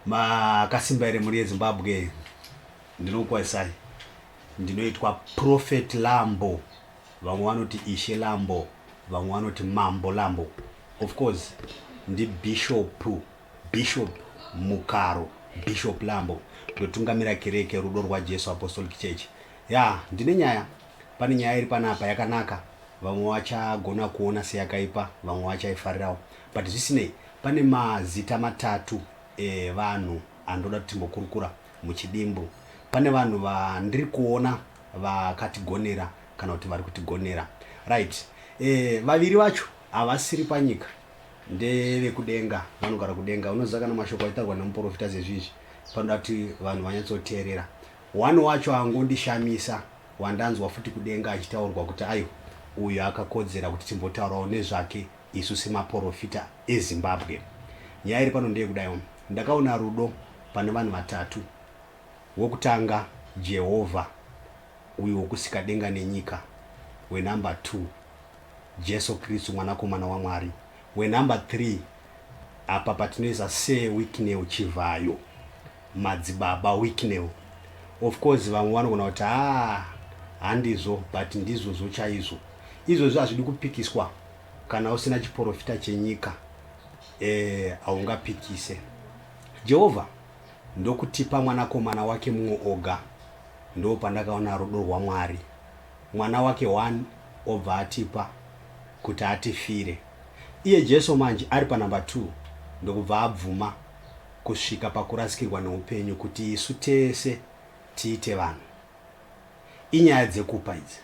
makasimba here mhuri yezimbabwe ndinokukwazisai ndinoitwa prophet lambo vamwe vanoti ishe lambo vamwe vanoti mambo lambo of course ndibishop bishop mukaro bishop lambo ndotungamira kereke rudo rwajesu apostolic church ya ndine nyaya pane nyaya iri panapa yakanaka vamwe vachagona kuona seyakaipa vamwe vachaifarirawo But zvisinei, pane mazita matatu evanhu andoda kuti timbokurukura muchidimbu. Pane vanhu vandiri kuona vakatigonera kana kuti vari kutigonera. Right. Eh, vaviri vacho havasiri panyika ndevekudenga vanogara kudenga unoziva kana mashoko aitaurwa nemuprofita zezvizvi panoda kuti vanhu vanyatsoteerera one wacho angondishamisa wandanzwa futi kudenga achitaurwa kuti ayo uyu akakodzera kuti timbotaurawo nezvake Isu semaporofita eZimbabwe nyaya iri pano ndeyekudaiwo, ndakaona rudo pane vanhu vatatu, wokutanga Jehovha uyu wokusika denga nenyika, wenumber two Jesu Kristu mwanakomana waMwari, wenumber three apa patinoisa Sir Wicknell Chivhayo, Madzibaba Wicknell. Of course vamwe vanogona kuti haa handizvo but ndizvozvo chaizvo. Izvozvi hazvidi kupikiswa Kana usina chiporofita chenyika eh, haungapikise. Jehovha ndokutipa mwanakomana wake mumwe oga. Ndoo pandakaona rudo rwaMwari. Mwana wake one obva atipa kuti atifire. Iye Jesu manje ari panumber two ndokubva abvuma kusvika pakurasikirwa neupenyu kuti isu tese tiite vanhu. Inyaya dzekupa idzi.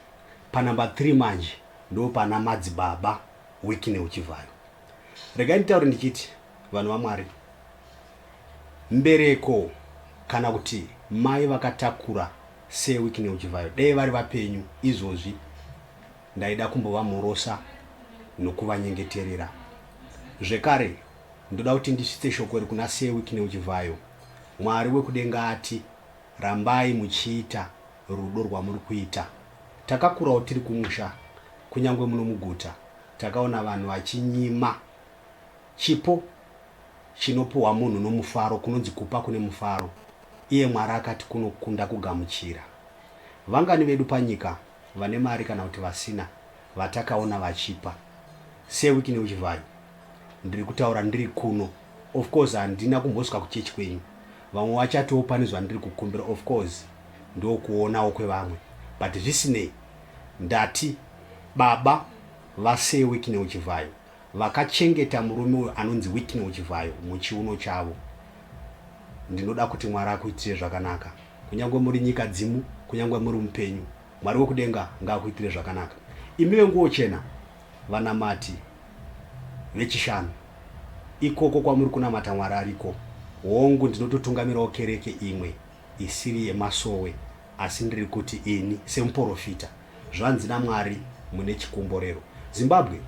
Pa number three manje ndopana madzibaba Wickney Uchivhayo. Regai nditaure ndichiti vanhu vaMwari mbereko kana kuti mai vakatakura se Wickney Uchivhayo dei vari vapenyu izvozvi ndaida kumbovamhorosa nokuvanyengeterera. Zvekare ndoda kuti ndisvitse shoko iri kuna se Wickney Uchivhayo Mwari wekudenga ati. Rambai muchiita rudo rwamuri kuita. Takakurawo tiri kumusha kunyangwe muno muguta takaona vanhu vachinyima chipo chinopuhwa munhu nomufaro kunonzi kupa kune mufaro iye Mwari akati kunokunda kugamuchira. Vangani vedu panyika Vane mari kana kuti vasina vatakaona vachipa se wiki neuchivhayo ndiri kutaura ndiri kuno of course handina kumbosvika kuchurch kwenyu vamwe vachatiwo pane zvandiri kukumbira of course ndokuonawo kwevamwe but zvisinei ndati baba vase wiki neuchivhayo vakachengeta murume uyo anonzi wiki neuchivhayo muchiuno chavo ndinoda kuti mwari akuitire zvakanaka Kunyangwe muri nyika dzimu, kunyangwe muri mupenyu, Mwari wekudenga ngaakuitire zvakanaka. Imi venguwo chena, vanamati vechishanu, ikoko kwamuri kunamata Mwari ariko. Hongu, ndinototungamirawo kereke imwe isiri yemasowe, asi ndiri kuti ini semuporofita, zvanzi naMwari, mune chikomborero. Zimbabwe,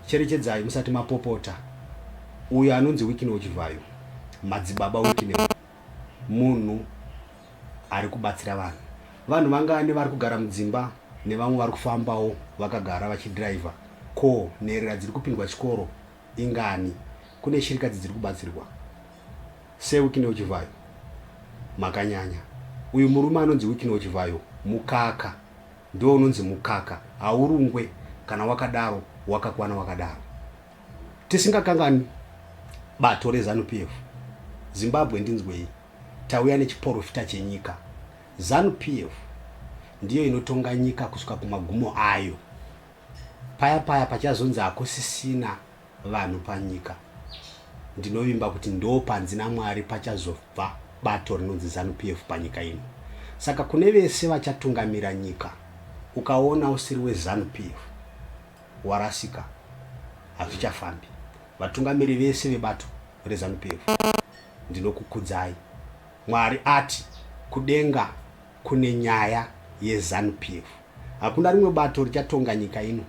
cherechedzai musati mapopota. Uyo anonzi Wicknell Chivhayo, Madzibaba Wicknell, munhu ari kubatsira vanhu. Vanhu vangani vari kugara mudzimba nevamwe vari kufambawo vakagara vachidhiraivha? Ko nherera dziri kupindwa chikoro ingani? Kune shirikadzi dziri kubatsirwa? Sir Wicknell Chivhayo, makanyanya. Uyu murume anonzi Wicknell Chivhayo mukaka, ndiwo unonzi mukaka, haurungwe kana wakadaro wakakwana wakadaro. Tisingakanganwi bato reZanu PF, Zimbabwe Ndinzwei, tauya nechiporofita chenyika. Zanu PF ndiyo inotonga nyika kusvika kumagumo ayo. Paya paya pachazonzi hakusisina vanhu panyika, ndinovimba kuti ndo panzi naMwari pachazobva bato rinonzi Zanu PF panyika ino. Saka kune vese vachatungamira nyika, ukaona usiri weZanu PF, hwarasika hazvichafambi. Vatungamiri vese vebato reZanu PF ndinokukudzai. Mwari ati kudenga kune nyaya yeZanu PF. Hakuna rimwe bato richatonga nyika ino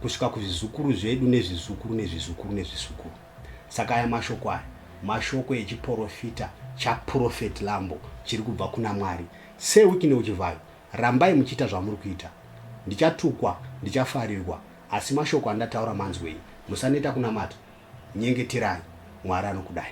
kusvika kuzvizukuru zvedu nezvizukuru nezvizukuru nezvizukuru. Saka aya mashoko aya mashoko echiporofita chaProphet Lambo chiri kubva kuna Mwari. Sei Wiki Neuchivhayo Rambai muchiita zvamuri kuita. Ndichatukwa, ndichafarirwa, asi mashoko andataura manzwei. Musaneta kunamata. Nyengeterai. Mwari anokudai.